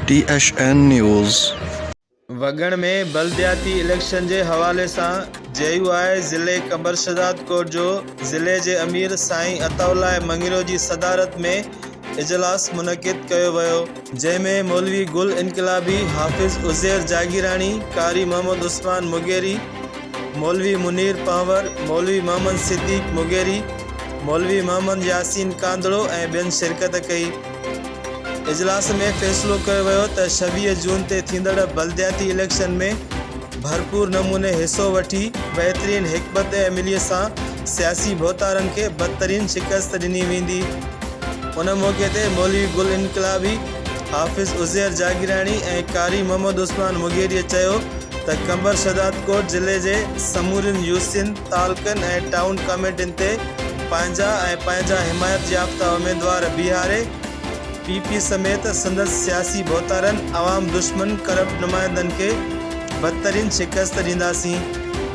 ٽي H N news. وڳڻ ۾ بلدياتي election جي حوالي سان جي يو آء ضلعي قمبرشهداد ڪوٽ جو ضلعي جي امير سائين عطاء الله مڱيرو جي صدارت ۾ اجلاس منعقد ڪيو ويو، جنهن ۾ مولوي گل انقلابي، حافظ عزير جاگيراڻي، قاري محمد عثمان مغيري، مولوي منير پنهور، مولوي محمد صديق مغيري، مولوي محمد ياسين ڪانڌڙو ۽ ٻين شرڪت ڪئي. اجلاس ۾ فيصلو ڪيو ويو ته ڇويهه جون تي ٿيندڙ بلدياتي اليڪشن ۾ ڀرپور نموني حصو وٺي بهترين حڪمت عملي سان سياسي ڀوتارن کي بدترين شڪست ڏني ويندي. ان موقعي تي مولوي گل انقلابي، حافظ عزير جاگيراڻي ۽ قاري محمد عثمان مغيريء چيو ته قمبر شهدادڪوٽ ضلعي جي سمورين يو سين، تعلقن ۽ ٽائون ڪاميٽين تي پنهنجا ۽ پنهنجا حمايت يافته اميدوار بيهاري، پي پي سميت سندس سياسي ڀوتارن، عوام دشمن ڪرپٽ نمائندن کي بدترين شڪست ڏينداسين.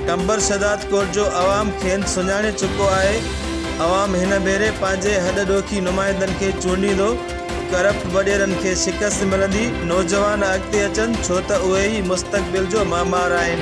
ٽنبر شھداد ڪوٽ جو عوام کين سڃاڻي چڪو آھي، عوام ھن ڀيري پنھنجي ھڏ ڏوکي نمائندن کي چونڊيندو، ڪرپٽ وڏيرن کي شڪست ملندي، نوجوان اڳتي اچن ڇو ته اھي ئي مستقبل جو معمار آھن.